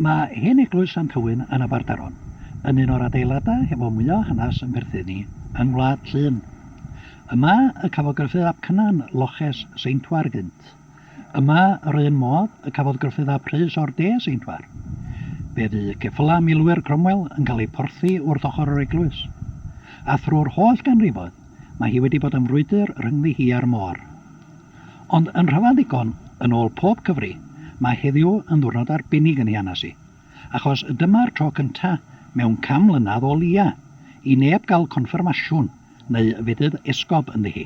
Mae hen eglwys Sant Hywyn yn Aberdaron yn un o'r adeiladau hefo mwya o hanes yn perthyn i yng Ngwlad Llŷn. Yma y cafodd Gruffydd ap Cynan loches seintwar gynt. Yma yr un modd y cafodd Gruffydd ap Rhys o'r de seintwar. Fe fu ceffylau milwyr Cromwell yn cael eu porthi wrth ochr yr eglwys. A thrwy'r holl ganrifoedd mae hi wedi bod yn frwydr rhyngddi hi a'r môr. Ond yn rhyfedd ddigon, yn ôl pob cyfri, mae heddiw yn ddiwrnod arbennig yn Hianasi, achos dyma'r tro cyntaf mewn can mlynedd o leia' i neb gael confyrmasiwn neu fedydd esgob ynddi hi.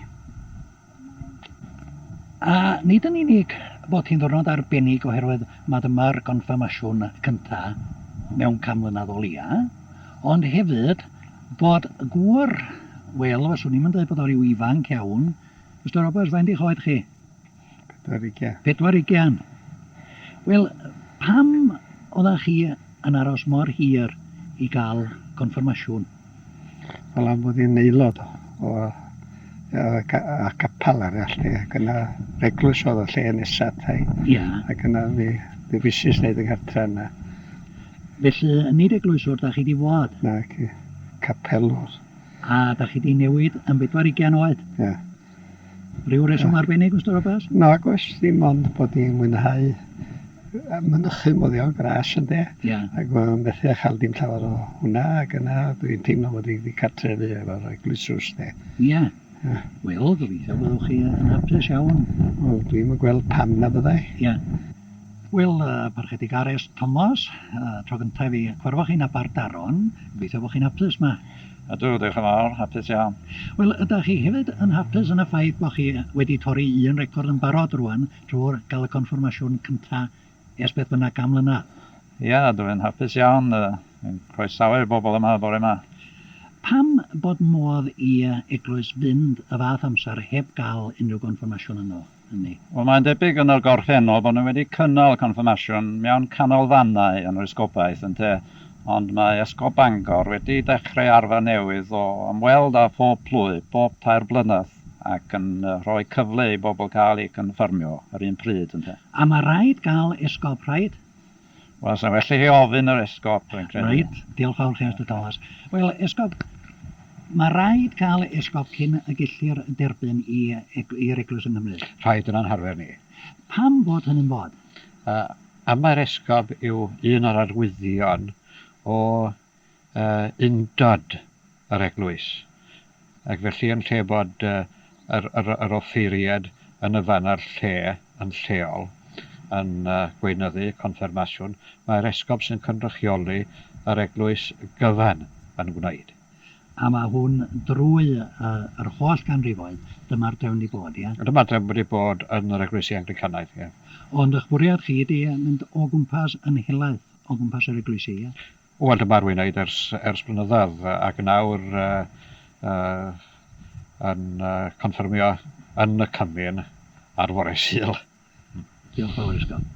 A nid yn unig bod hi'n ddiwrnod arbennig oherwydd mai dyma'r confyrmasiwn cyntaf mewn can mlynedd o leia', ond hefyd bod gŵr, wel, fyswn i'm yn dweud bod o ryw ifanc iawn, Mister Roberts, faint eich oed chi? Pedwar ugian. Pedwar ugian. Wel, pam oeddech chi yn aros mor hir i gael confirmasiwn? Wel, am bod i'n aelod o, o a capel arall, e, ac yna reglwys oedd y lle nesaf tai. Ia. Ac yna fi, fi fysis wneud y gartre yna. Felly, nid eglwyswr da chi di fod? Na, ci, capelwr. A dach chi 'di newid yn bedwar ugain oed? Ie. Ryw reswm Ie. arbennig, Mister Roberts? Nag oes, dim ond bod i'n mwynhau yy mynychu moddion gras ynde? Ie. Ac ma' methu â chael dim llawer o hwnna, ac yna dwi'n teimlo fod i 'di cartrefu efo'r eglwysws 'de. Ie. Ie. Wel, gobeithio byddwch chi yn hapus iawn. Wel, dwi'm yn gweld pam na fyddai. Ie. Wel, yy, Parchedig Ares Tomos, yy, tro gynta' i fi cyfarfod chi yn Aberddaron, gobeithio bo' chi'n hapus 'ma. Ydw, diolch yn fawr, hapus iawn. Wel, ydach chi hefyd yn hapus yn y ffaith bod chi wedi torri un record yn barod rwan drwy'r gael y confirmasiwn cynta ers beth bynnag gan mlynedd? Ia, dw i'n hapus iawn, yn croesawu'r bobl yma bore yma. Pam bod modd i eglwys fynd y fath amser heb gael unrhyw gonfirmasiwn ynddo fo? hynny. Wel, mae'n debyg yn y gorffennol bod nhw wedi cynnal confyrmasiwn mewn canolfannau yn yr Esgobaeth, ynte, ond mae Esgob Bangor wedi dechrau arfer newydd o ymweld â phob plwy, bob tair blynedd, ac yn rhoi cyfle i bobl cael eu cynffyrmio yr un pryd, ynte. A mae rhaid cael Esgob, rhaid, Wel, sa'n well i chi ofyn yr esgob, rwy'n credu. Reit, diolch fawr chi, Mister Thomas. Wel, esgob, mae rhaid cael esgob cyn y gellir derbyn i'r eglwys yng Nghymru. Rhaid yn ein harfer ni. Pam fod hynny'n bod? Am mai'r esgob yw un o'r arwyddion o y undod, yr eglwys. Ac felly yn lle bod yr yr yr offeiriad yn y fan a'r lle yn lleol yn gweinyddu confyrmasiwn, mae'r esgob sy'n cynrychioli yr eglwys gyfan yn gwneud. A mae hwn drwy yr holl ganrifoedd, dyma'r drefn wedi bod, ie? Dyma'r drefn wedi bod yn yr eglwysi Anglicanaidd, ie. Ond ych bwriad chi ydy mynd o gwmpas yn helaeth o gwmpas yr eglwysi, ie? Wel, dyma rwy'n wneud ers, ers blynyddoedd ac nawr yn confyrmio yn y cymun ar fore Sul. Diolch fawr i Scott.